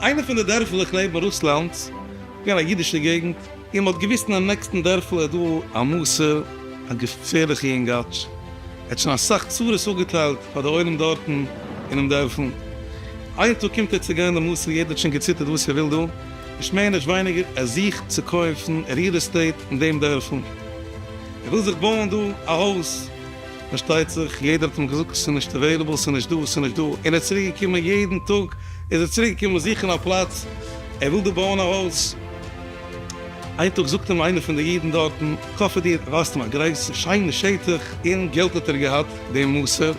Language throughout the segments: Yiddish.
איינע פון די דערפלעך נעבן רוסלאנד איז געווען א אידישע געגנט, און מ'האט געוואוסט אין די נעקסטן דערפל איז דא א מסור, א געפערליכע יונגאטש, ער האט שוין אסאך צרות אפגעטיילט פאר די עולם דארטן אינעם דערפל, איין טאג קומט ער צו גיין די מסור, יעדער האט שוין געציטערט וואס ער וויל דא, נישט מער נישט ווייניגער, ער זוכט צו קויפן ריעל עסטעיט אין דעם דערפל, ער וויל זיך בויען דא א הויז, פארשטייט זיך יעדער האט אים געזאגט ס'איז נישט עוועילעבל, ס'איז נישט דא, ס'איז נישט דא, און ער איז צוריק געקומען יעדן טאג איז ער צוריק געקומען זוכן א פלאץ, ער וויל דא בויען א הויז, איין טאג זאגט אים איינער פון די אידן דארטן, כ'אפער דיר, ווייזט אים א גרויסע שיינע שטח, און געלט האט ער געהאט דעם מסור.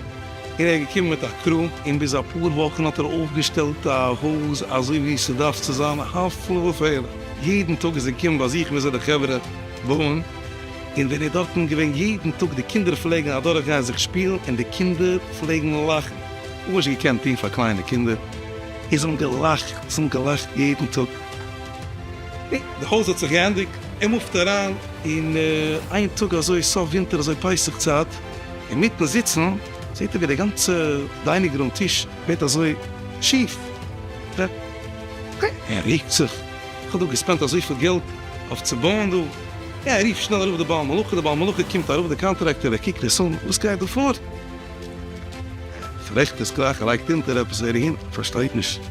ער איז געקומען מיט א קרו, און ביז אפאר וואכן האט ער אויפגעשטעלט א הויז אזוי ווי ס'דארף צו זיין, הפלא ופלא, יעדן טאג איז ער געקומען באזוכן וויאזוי די חברה בויען, און ווען ער איז דארטן געווען יעדן טאג די קינדער פלעגן אדורך גיין זיך שפילן און די קינדער פלעגן לאכן, נישט געקענט טון פאר קליינע קינדער, און זיי האבן געלאכט, זיי האבן געלאכט יעדן טאג, נו, די הויז האט זיך געענדיגט, ער מופט אריין, און איין טאג אזוי סוף ווינטער אזוי פסח צייט, אינמיטן זיצן זעט ער ווי די גאנצע דיינינג רום טיש ווערט אזוי שיף, ער ריקט זיך, איך האב דא געספענדט אזויפיל געלט אויף צו בויען דא, ער רופט שנעל ארויף די בעל מלאכה, די בעל מלאכה קומט ארויף, די קאנטראקטער ער קוקט עס אן, וואס גייט דא פאר? ער פארעכט עס גלייך, ער לייגט אונטער עפעס ווער אהין, פארשטייט נישט,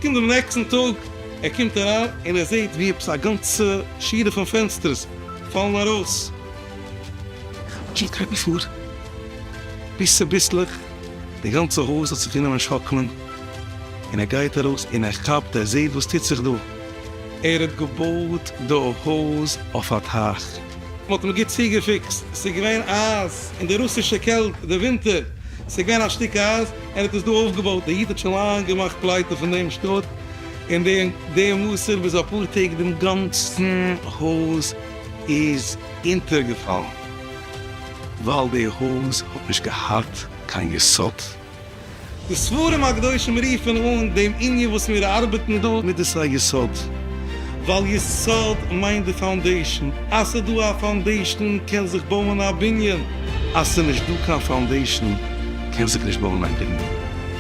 קומט דעם נעקסטן טאג, ער קומט אריין און ער זעט ווי עפעס א גאנצע שורה פון פענסטערס פאלן ארויס, זשאסט גייט מען פאר ביסל ביסלעך, די גאנצע הויז האט זיך אנגענומען שאקלען, און ער גייט ארויס און ער כאפט ער זעהט וואס טוט זיך דא, ער האט געבויט די הויז אויף א טייך, מען האט אים גוט צוגעפיקסט, עס איז געווען אייז אין די רוסישע קעלט די ווינטער, עס איז געווען א שטיק אייז, ער האט עס דא אויפגעבויט, דער איד האט שוין לאנג געמאכט פלייטע פון דעם שטאט, און דעם וואסער ביז אפאר טעג דעם גאנצן הויז. איז אונטערגעפאלן ווייל די הויז האט נישט געהאט קיין יסוד. די ספרים הקדושים רופן אן דעם ענין וואס מיר ארבעטן דא מיט דאס א יסוד, ווייל יסוד מיינט די פאונדעישאן, אז ס'איז דא א פאונדעישאן קען זיך בויען א בנין, אז ס'איז נישט דא קיין פאונדעישאן קען זיך נישט בויען א בנין.